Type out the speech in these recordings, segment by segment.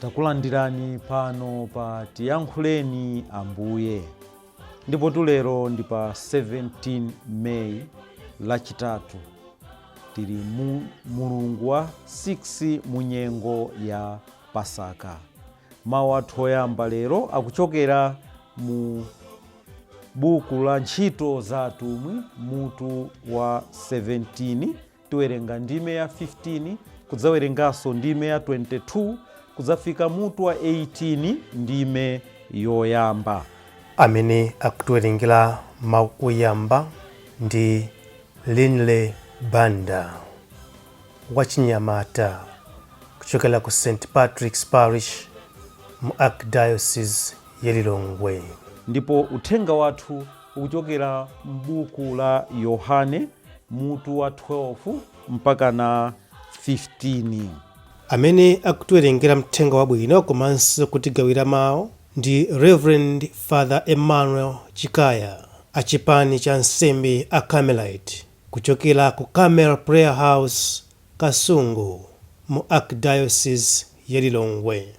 takulandirani pano pa tiyankhuleni ambuye ndipo tulero ndi pa 17 meyi lachitatu tili mu mulungu wa 6 mu nyengo ya pasaka Mawu athu oyamba lero akuchokera mu buku la Ntchito za Atumwi, mutu wa 17. Tiwerenga ndime ya 15, kudzawerenganso ndime ya 22, kudzafika mutu wa 18, ndime yoyamba. Amene akutiwerengera mawu oyamba ndi Linley Banda. wachinyamata kuchokera ku St. Patrick's Parish mu Archdiocese ya Lilongwe. Ndipo uthenga wathu ukuchokera m'buku la Yohane mutu wa 12 mpaka na 15. Amene akutiwerengera mthenga wabwino komanso kutigawira mawu ndi Reverend Father Emmanuel Chikaya a chipani cha ansembe a Carmelite Kuchokera ku Carmel Prayer House, Kasungu, mu Archdiocese ya Lilongwe.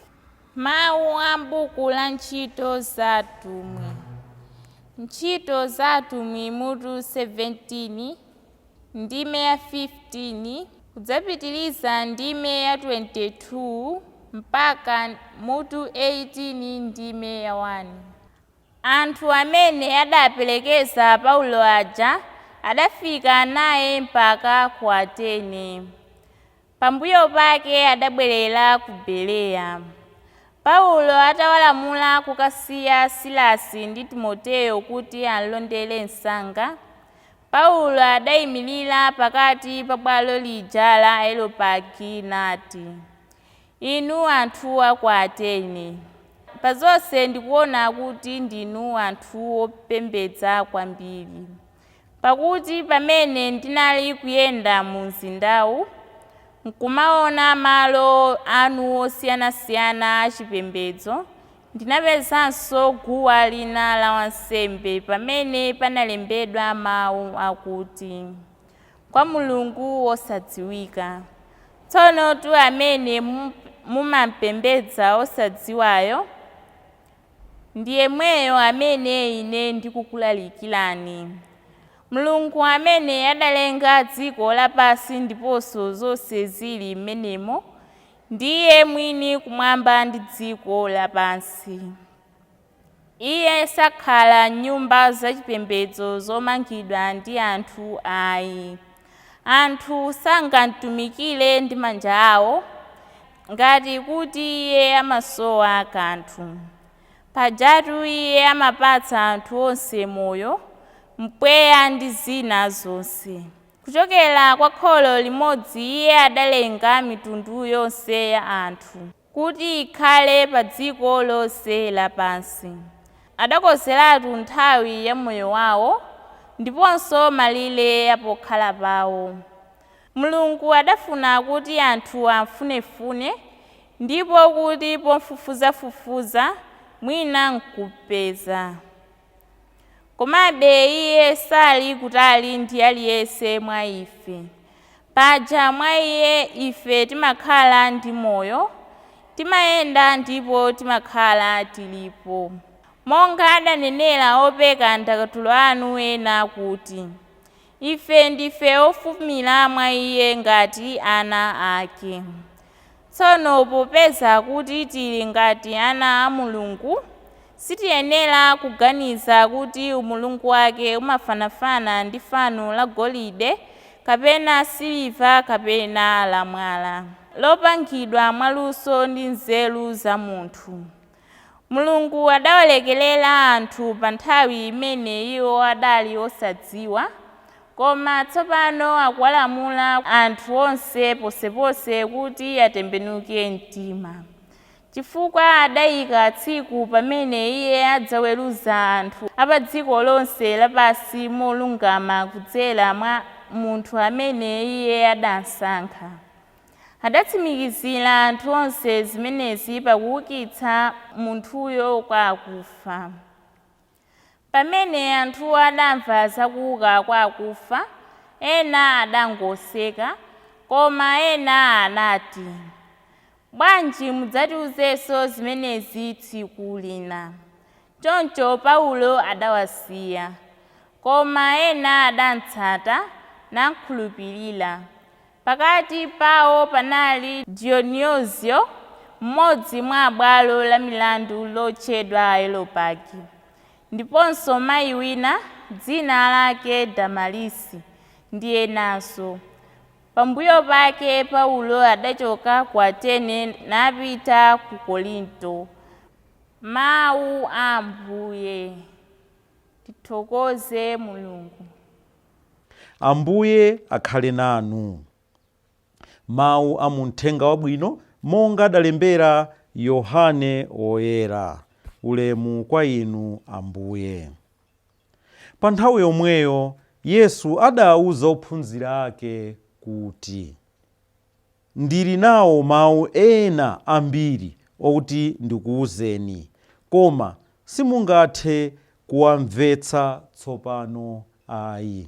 Mawu a m'buku la Ntchito za Atumwi Ntchito za Atumwi mutu 17, ndime ya 15, kudzapitiriza ndime ya 22 mpaka mutu 18 ndime ya 1. Anthu amene adaperekeza Paulo aja adafika naye mpaka ku Atene. Pambuyo pake adabwerera ku Bereya. Paulo atawalamula kukasiya Silasi ndi Timoteyo kuti amlondere msanga, Paulo adaimirira pakati pa bwalo lija la Areopagi nati, Inu anthu a ku Atene, pa zonse ndikuona kuti ndinu anthu opembedza kwambiri. Pakuti pamene ndinali kuyenda mumzindawu n'kumaona malo anu osiyanasiyana achipembedzo, ndinapezanso guwa lina la wansembe pamene panalembedwa mawu akuti, kwa mulungu wosadziwika. Tsonotu amene mumampembedza osadziwayo ndi yemweyo amene ine ndikukulalikirani. Mulungu amene adalenga dziko lapansi ndiponso zonse zili m'menemo, ndiye mwini kumwamba ndi dziko lapansi. Iye sakhala m'nyumba zachipembedzo zomangidwa ndi anthu ayi. Anthu sangamtumikire ndi manja awo ngati kuti iye amasowa kanthu. Pajatu iye amapatsa anthu onse moyo, mpweya ndi zina zonse. Kuchokera kwa kholo limodzi iye adalenga mitundu yonse ya anthu. kuti ikhale pa dziko lonse lapansi. Adakonzeratu nthawi ya moyo wawo ndiponso malire a pokhala pawo. Mulungu adafuna kuti anthu amfunefune ndipo kuti pofufuzafufuza mwina nkumpeza. Komabe iye sali kutali ndi aliyense mwa ife. Paja mwa iye ife timakhala ndi moyo, timayenda ndipo timakhala tilipo. Monga adanenera opeka ndakatulo anu ena kuti, Ife ndife ofumira mwa Iye ngati ana Ake. Tsono popeza kuti tili ngati ana a Mulungu, sitiyenera kuganiza kuti umulungu wake umafanafana ndi fano la golide kapena siliva kapena la mwala, lopangidwa mwaluso ndi nzeru za munthu. Mulungu adawalekerera anthu pa nthawi imene iwo adali osadziwa, koma tsopano akuwalamula anthu onse ponseponse kuti atembenuke mtima, chifukwa adaika tsiku pamene iye adzaweruza anthu a pa dziko lonse lapansi molungama kudzera mwa munthu amene iye adamsankha. Adatsimikizira anthu onse zimenezi pakuukitsa munthuyo kwa akufa. Pamene anthuwo adamva za kuuka kwa akufa, ena adangoseka, koma ena anati, Bwanji mudzatiuzenso zimenezi tsiku lina. Choncho Paulo adawasiya. Koma ena adamtsata, nakhulupirira. Pakati pawo panali Dionizio, mmodzi mwa abwalo la milandu lotchedwa Areopagi, ndiponso mai wina dzina lake Damarisi, ndi enanso. Pambuyo pake Paulo adachoka ku Atene napita ku Korinto. Mawu a Ambuye. Tithokoze Mulungu. Ambuye akhale nanu. Mawu a mu Mthenga Wabwino monga adalembera Yohane Woyera. Ulemu kwa Inu, Ambuye. Pa nthawi yomweyo Yesu adauza ophunzira ake kuti. Ndiri nawo mawu ena ambiri okuti ndikuuzeni, koma simungathe kuwamvetsa tsopano ayi.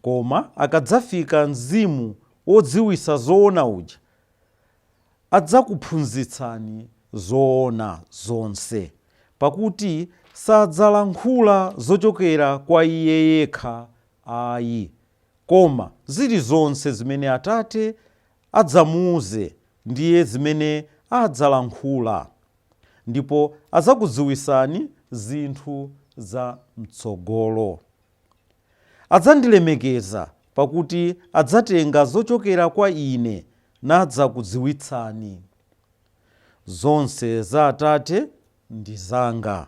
Koma akadzafika Mzimu wodziwitsa zoona uja, adzakuphunzitsani zoona zonse, pakuti sadzalankhula zochokera kwa Iye yekha ayi, Koma zilizonse zimene Atate adzamuuze ndiye zimene adzalankhula. Ndipo adzakudziwitsani zinthu za m'tsogolo. Adzandilemekeza, pakuti adzatenga zochokera kwa ine nadzakudziwitsani. Zonse za Atate ndi zanga.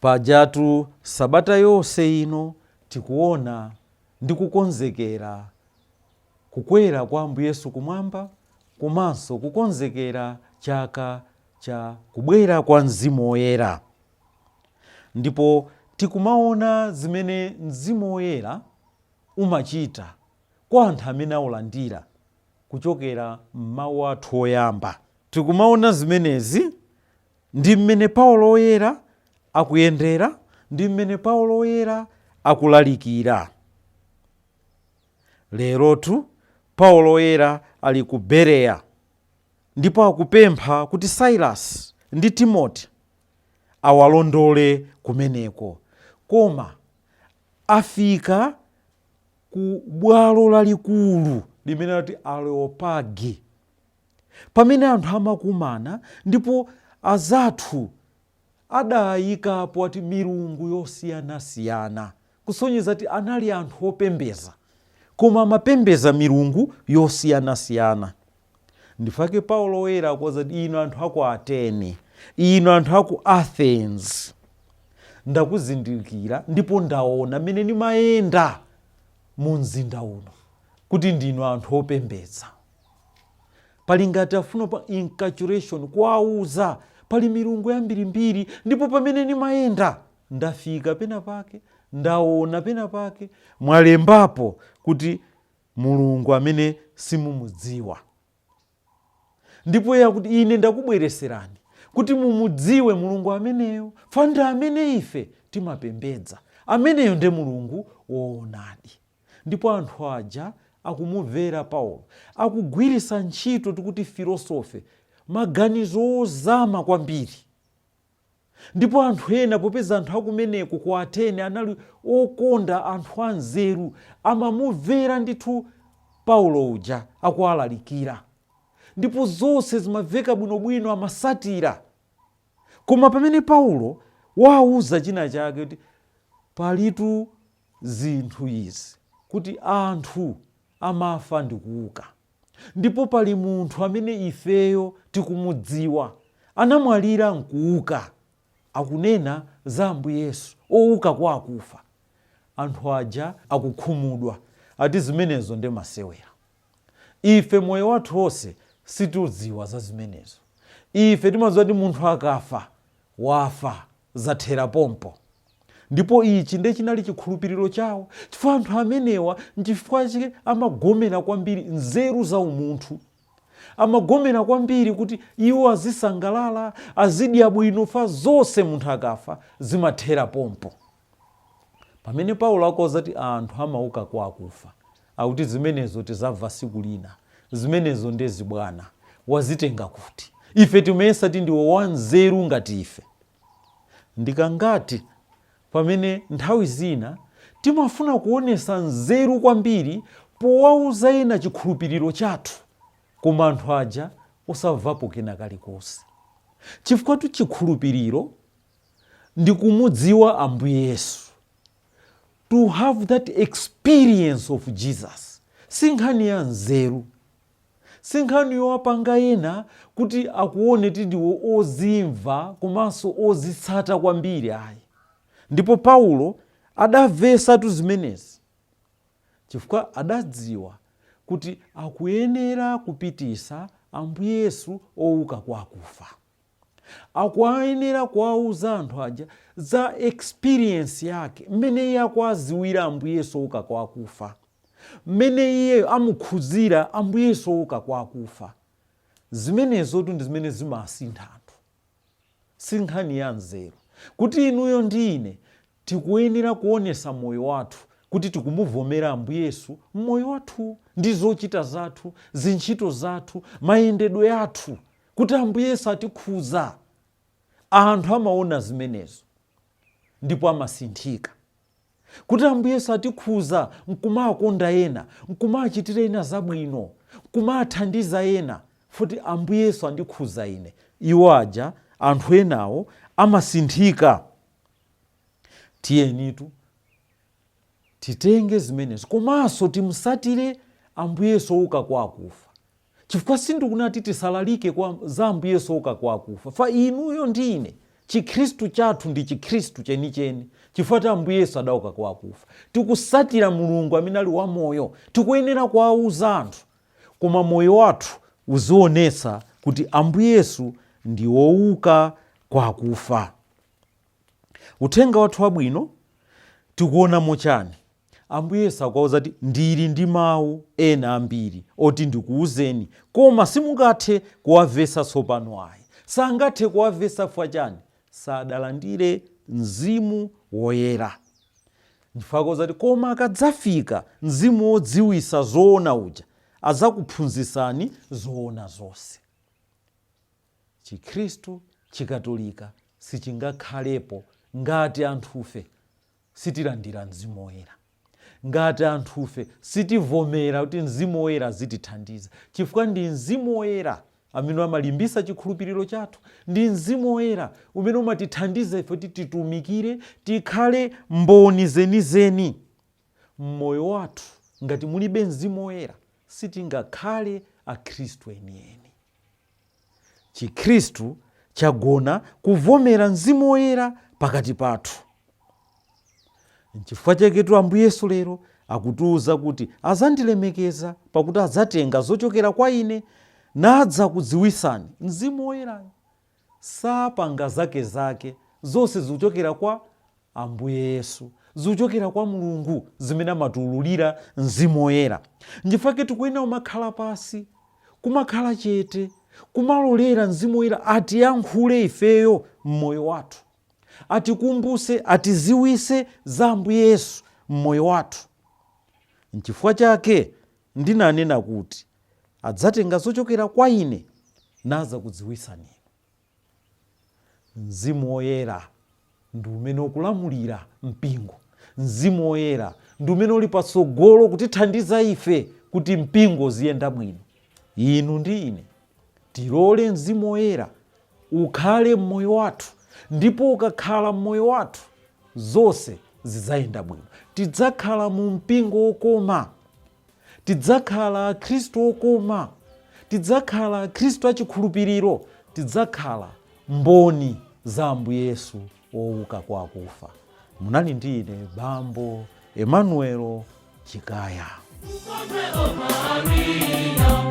Pajatu sabata yonse ino tikuona ndi kukonzekera kukwera kwa Ambuye Yesu kumwamba komanso kukonzekera chaka cha kubwera kwa Mzimu Woyera. Ndipo tikumaona zimene Mzimu Woyera umachita kwa anthu amene aulandira kuchokera m'mau athu oyamba. Tikumaona zimenezi Ndi mmene Paulo Woyera akuyendera, ndi mmene Paulo Woyera akulalikira. Lerotu, Paulo Woyera ali ku Bereya, ndipo akupempha kuti Sailasi ndi Timoti awalondole kumeneko. Koma afika ku bwalo lalikulu limene ati Areopagi. pamene anthu amakumana ndipo azathu adayikapo ati milungu yosiyanasiyana kusonyeza kuti anali anthu opembeza koma amapembeza milungu yosiyanasiyana nchifukwa chake paulo oyera akuwauza kuti inu anthu aku atene inu anthu aku athens ndakuzindikira ndipo ndaona mmene nimayenda mu mzinda uno kuti ndinu anthu opembeza Pali ngati afuna pa inculturation kuwauza pali milungu yambirimbiri ndipo pamene ndimayenda ndafika pena pake ndaona pena pake mwalembapo kuti mulungu amene simumudziwa ndipo ya kuti ine ndakubwereserani kuti mumudziwe mulungu ameneyo fa ndi amene ife timapembedza ameneyo nde mulungu woonadi Ndipo anthu aja akumumvera Paulo, akugwiritsa ntchito tikuti filosofe, maganizo ozama kwambiri. Ndipo anthu ena, popeza anthu akumeneko ku Atene anali okonda anthu anzeru, amamumvera ndithu Paulo uja akuwalalikira. Ndipo zonse zimamveka bwinobwino, amatsatira. Koma pamene Paulo wawauza chinachake, kuti, Palitu zinthu izi, kuti anthu amafa ndi kuuka. Ndipo pali Munthu amene ifeyo tikumudziwa, anamwalira nkuuka, akunena za Ambuye Yesu, ouka kwa akufa. Anthu aja akukhumudwa, ati zimenezo ndi masewera. Ife moyo wathu wonse sitidziwa za zimenezo. Ife timadziwa kuti munthu akafa, wafa. zathera pompo. Ndipo ichi nde chinali chikhulupiliro chawo chifukwa anthu amenewa nchifukwa chake amagomera kwambiri nzeru za umunthu. Amagomera kwambiri kuti iwo azisangalala, azidya bwino chfukwa zonse munthu akafa zimathera pompo. Pamene Paulo akuwauza kuti anthu amauka kwa akufa, Akuti zimenezo tizamva siku lina. Zimenezo nde zibwana. Wazitenga kuti? Ife timayesa ti ndiwe wa nzeru ngati ife. Ndikangati pamene nthawi zina timafuna kuonesa nzeru kwambiri powauza ena chikhulupiriro chathu koma anthu aja osamvapo kena kalikonse. Chifukwatu chikhulupiriro ndi kumudziwa Ambuye Yesu. to have that experience of jesus si nkhani ya nzeru si nkhani yowapanga ena kuti akuone ti ndiwe wozimva komanso wozitsata kwambiri ayi ndipo paulo adamvesatu zimenezi chifukwa adadziwa kuti akuyenera kupitisa ambuye yesu ouka kwa akufa akuayenera kuwauza anthu aja za experience yake mmene iye akuaziwira ambuye yesu ouka kwa akufa mmene iye amukhuzira ambuye yesu ouka kwa akufa zimenezotu ndi zimene zimasintha anthu si nkhani ya nzeru kuti inuyo ndi ine tikuyenera kuonesa moyo wathu kuti tikumuvomera ambuye yesu mmoyo wathu ndi zochita zathu ntchito zathu mayendedwe athu kuti Ambuye Yesu atikhuza, anthu amaona zimenezo ndipo amasinthika. Kuti Ambuye Yesu atikhuza nkumawakonda ena, nkumawachitira ena zabwino, nkumawathandiza ena, futi Ambuye Yesu andikhuza ine, iwo aja, anthu enawo amasinthika. Tiyenitu Titenge zimenezo komanso timusatire Ambuye Yesu ouka kwa akufa. Chifukwa sindikunati tisalalike za Ambuye Yesu ouka kwa akufa, fa inuyo ndi ine, Chikhristu chathu ndi Chikhristu chenicheni chifukwa ti Ambuye Yesu adauka kwa akufa. Tikusatira Mulungu amene ali wamoyo. Tikuyenera kuwauza anthu koma moyo wathu uzionesa kuti Ambuye Yesu ndi ouka kwa akufa. Uthenga wathu wabwino tikuonamo chani? Ambuye Yesu akuwauza kuti ndili ndi mau ena ambiri oti ndikuuzeni koma simungathe kuwavesa tsopano ayi. Sangathe kuwavesa chifukwa chani? Sadalandire Mzimu Woyera. Chifukwa akuwauza kuti koma akadzafika Mzimu wodziwisa zoona uja, adzakuphunzisani zoona zonse. Chikhristu, Chikatolika sichingakhalepo ngati anthufe sitilandira Mzimu Woyera, ngati anthufe sitivomera kuti Mzimu Woyera azitithandiza, chifukwa ndi Mzimu Woyera amene amalimbisa chikhulupiriro chathu, ndi Mzimu Woyera umene umatithandiza ife kuti titumikire, tikhale mboni zenizeni m'moyo wathu. Ngati mulibe Mzimu Woyera, sitingakhale Akhristu enieni. Chikhristu chagona kuvomera Mzimu Woyera pakati pathu. Nchifukwa chaketu Ambuye Yesu lero akutiuza kuti azandilemekeza pakuti adzatenga zochokera kwa ine nadzakudziwisani. Mzimu Woyera sapanga zakezake, zonse zikuchokera kwa Ambuye Yesu. Zikuchokera kwa Mulungu zimene amatiululira Mzimu Woyera. Nchifukwa chake tikuyenera kumakhala pansi, kumakhala chete, kumalolera Mzimu Woyera atiyankhule ifeyo m'moyo wathu, atikumbuse, atiziwise za Ambuye Yesu m'moyo wathu. Nchifukwa chake ndinanena kuti adzatenga zochokera kwa ine nadzakudziwisani inu. Mzimu Woyera ndi umene ukulamulira mpingo. Mzimu Woyera ndi umene uli patsogolo kutithandiza ife kuti mpingo ziyenda bwino. Inu ndi ine tilole Mzimu Woyera ukhale m'moyo wathu, ndipo ukakhala m'moyo wathu zonse zidzayenda bwino. Tidzakhala mu mpingo wokoma. Tidzakhala Akhristu okoma. Tidzakhala Akhristu achikhulupiriro. Tidzakhala mboni za Ambuye Yesu wouka kwa akufa. Munali ndi ine Bambo Emmanuel Chikaya. Ukonde o Maria.